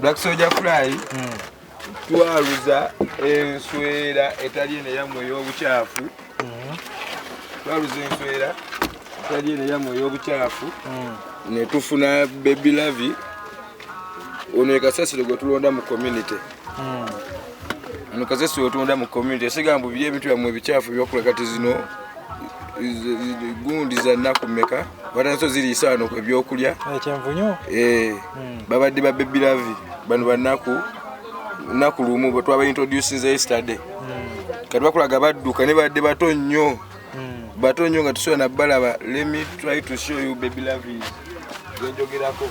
Black Soldier Fly hmm. twaluza enswera etali eno eyamwe ey'obukyafu hmm. twaluza enswera etali eno eyamwe ey'obukyafu hmm. ne tufuna Baby Lavi ono ye kasasiro gwe tulonda mu community Ono kasese otunda mu community esiga mbu biri ebintu byamwe ebicafu byokula kati zino gundi za nnaku mmeka watanso ziri isaano ku ebyokulya ekyenvunyo eh, hmm. babadde ba baby lavi bano bannaku nnaku lumu bwe twaba introducinze yesterday hmm. kati bakulaga badduka ne badde bato nnyo hmm. bato nnyo nga tusobola nabbalaba let me try to show you baby lavi gwenjogerako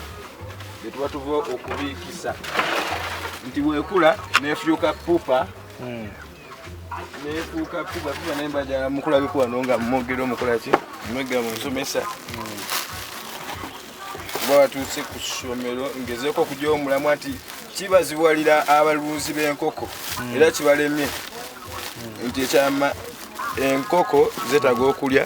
gye tuba tuva okubiikisa nti bwekula nefuuka pupa hmm. nefuuka pupa pupa naye mbajala mukula bikuwano nga mumwogera omukolaki mwegera mumusomesa hmm. kuba watuuse ku ssomero ngezeeko okuja omulamwa nti kibaziwalira abalunzi b'enkoko hmm. era kibalemye nti ekyama enkoko zetaga okulya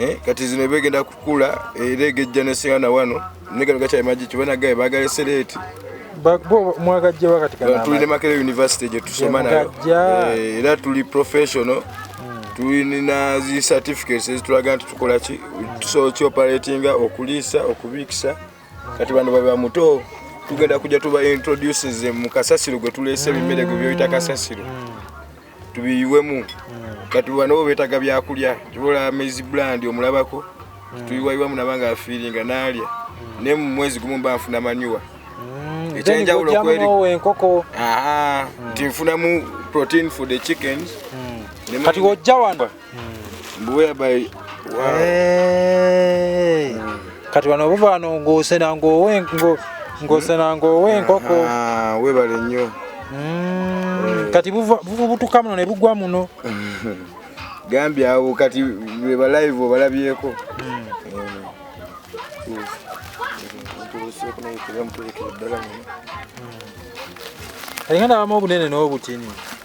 Eh, kati zino ebegenda kukula era egejja nesinga na wano negano gakyali magi kibona gaye bagale sereti mwagajja wakati kana tuli ne makere university gye tusoma nayo eh, era tuli professional hmm. tulina zi certificates ezitulaga nti tukola ki tusobola kioperatinga okuliisa okubiikisa kati bano baba muto tugenda kujja tuba introduces mu kasasiro gwe tuleese ebimere gwe byoyita kasasiro hmm. tubiyiwemu hmm. kati banobo betaga byakulya kibola maize brand omulabako hmm. tuyiwayiwamu nabanga afiringa nalya hmm. ne mu mwezi gumu mba nfuna manyuwa ekyenjawulo kweri enkoko nti nfunamu protein for the chickens kati wojja wano whereby wow. hey. Eh. mm. kati wano obuva wano ngosena ngowe ngo ngosena ngowe nkoko ah webale nnyo mm. Eh. kati buva buva butuka muno ne bugwa muno gambi awo kati beba live obalabyeko mm. mm. Ayingana abamu obunene n'obutini.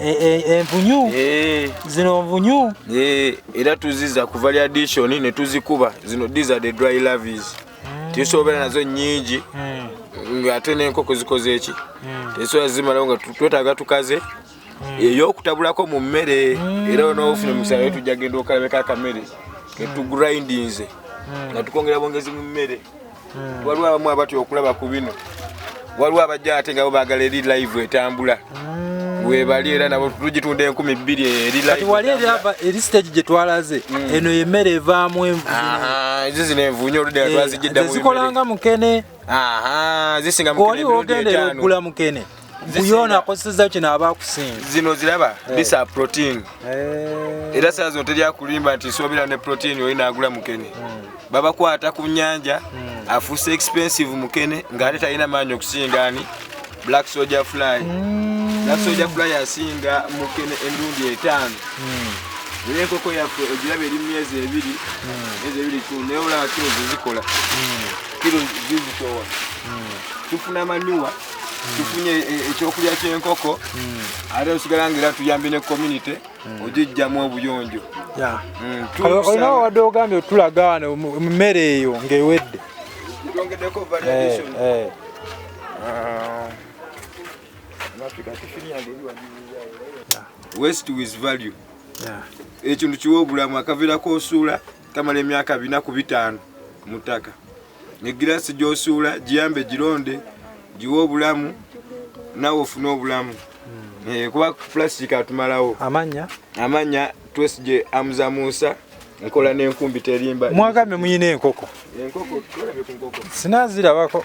Eh, eh, envunyu eh. zino nvunyu era tuziza ku variadishon ne tuzikuba zino these are the dry lavis hmm. tusobera nazo nyingi hmm. ng'ate n'enkoko zikoze eki hmm. tesobola zimalawo nga twetaaga tukaze eyokutabulako mu mmere era onoofuna omusaala we tujja genda okalabeko akamere ketugrindinze nga tukwongera bwongezi mu mmere hmm. waliwo abamu abatya okulaba ku bino waliwo abajja ate nga bo bagala eri live etambula hmm. webali era nabo tugitunda enkumi bbiri erilati wali eri stage gye twalaze hmm. eno yemmere evaamu envuezo zino envunyo oludda twazijiddamu eh, zikolanga mukene zisinga mukene emirundi etaano kuyona akozeseza kino aba akusinga zino ziraba eh. bisa protein eh. era saa zino terya kulimba nti sobera ne protein oli nagula mukene hmm. babakwata ku nyanja hmm. afuuse expensive mukene ngaate talina maanyi okusinga ani black soldier fly hmm. black soldier fly asinga mukene endundi etaano naye enkoko yaffe ogiraba eri myezi ebiri myezi ebiri kyo naye olaba kiro zizikola kiro zizitowa tufuna manuwa tufunye e, ekyokulya kyenkoko hmm. ate osigala nga era tuyambye ne community hmm. ogijjamu obuyonjo hmm, olina wadde ogambye otulaga wano mmere eyo ng'ewedde twongedeko variation eh, eh. ah. west with value ekintu kiwa obulamu akaviirako osuula kamala emyaka bina ku bitaano mu ttaka egiraasi gyosuula giyambe gironde giwe obulamu nawe ofune obulamu hmm. eh, kuba plastic atumalawo amanya amanya twesije amuza musa nkola nenkumbi terimba mwagambe muyina enkoko enkoko sinazirabako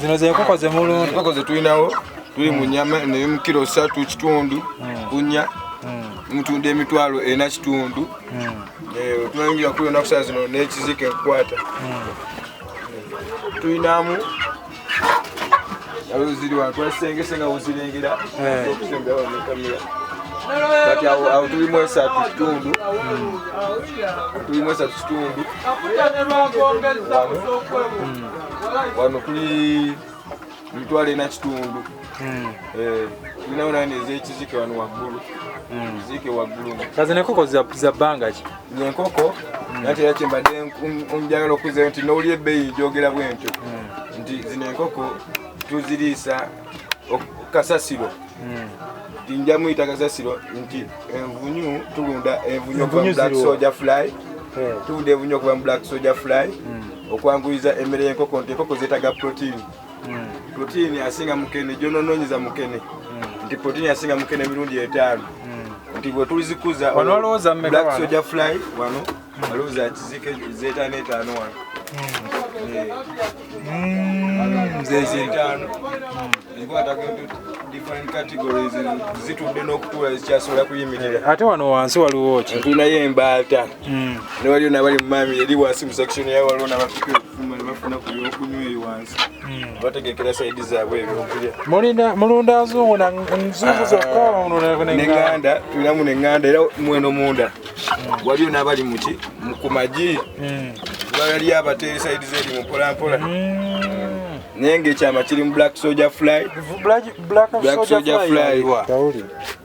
zino zenkoko zemulunda enkoko zetulinawo tuli mu nyama naye mu kiro satu kitundu hmm. kunya hmm. mutunda emitwalo ena kitundu hmm. eh, tunayingira kuli onaku saa zino nekizika enkukwata tulinamu kati awo tuli mu esatu kitundu tuli mu esatu kitundu wano tuli mitwalo ena kitundu hmm. eh, tulinawo nani ezekizike wano waggulu hmm. kizike waggulu kazi nekoko za bbanga ki enkoko nati era kyembadde njagala okuzayo nti nowuli ebbeeyi njogera bwentyo nti zino enkoko tuziriisa kasasiro tinja muyita kasasiro nti envunyu tulunda envunyu okuva mu black soldier fly hmm. tulunda envunyu okuva mu black soldier fly hmm. okwanguyiza emmere y'enkoko nti enkoko zeetaga proteini hmm. protein asinga mukene gyonononyeza mukene hmm. nti protein asinga mukene emirundi etaano hmm. nti bwetuzikuza black soja fly wano alowooza kizika zetaano etaano wano zezetaano zitudde n'okutuula zikyasobola kuyimirira eh, ate wano wansi waliwo ki tulinayo embaata newaliyo nabali mumami eri wansi mu section yayo waliwo nabapikiro mulunda nzungu nzungu zokaneŋanda ah, tulamu neŋanda era mweno munda hmm. waliyo nabali muki kumagi hmm. baliyo abateeri saidi zeri mupolampola hmm. naye ngaekyama kiri mu black soja fly black soja fly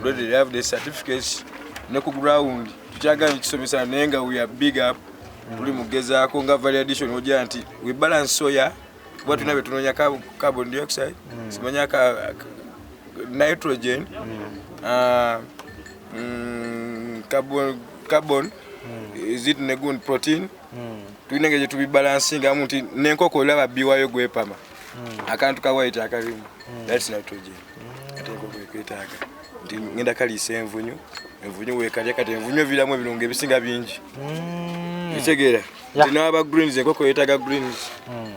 Already have the certificates ne ku ground tukyagala ekisomesa naye nga we are big up tuli mugezaako nga valley addition ojja nti we balance soya kuba tulina betunoonya carbon dioxide mm. simanya ka nitrogen mm. ah, mm, carbon carbon zit negun protein tulina nga gyetubibalansingamu nti nenkoko olaba biwayo gwepama akantu kawayiti akalimu that's nitrogen ate enkoko ekwetaaga nti ngenda kaliisa envunyu envunyu wekalya kati envunyu eviramu ebirungo ebisinga bingi mm. ekitegeera nti n'aba greens enkoko yetaaga greens mm.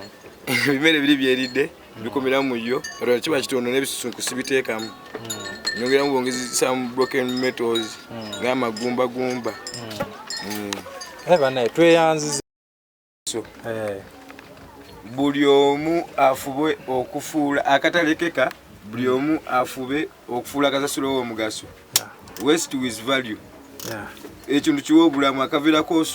ebimere biri byeridde bikumiramu mu yo katoa kiba kitondo n'ebisusunku sibiteekamu mm. nyongeramu bwongezi some broken metals ng'amagumbagumba banaye tweyanziza so eh. buli omu afube okufuula akatalekeka buli omu afube okufuula kasasiro w'omugaso west with value ekintu kiwa obulamu akaviirako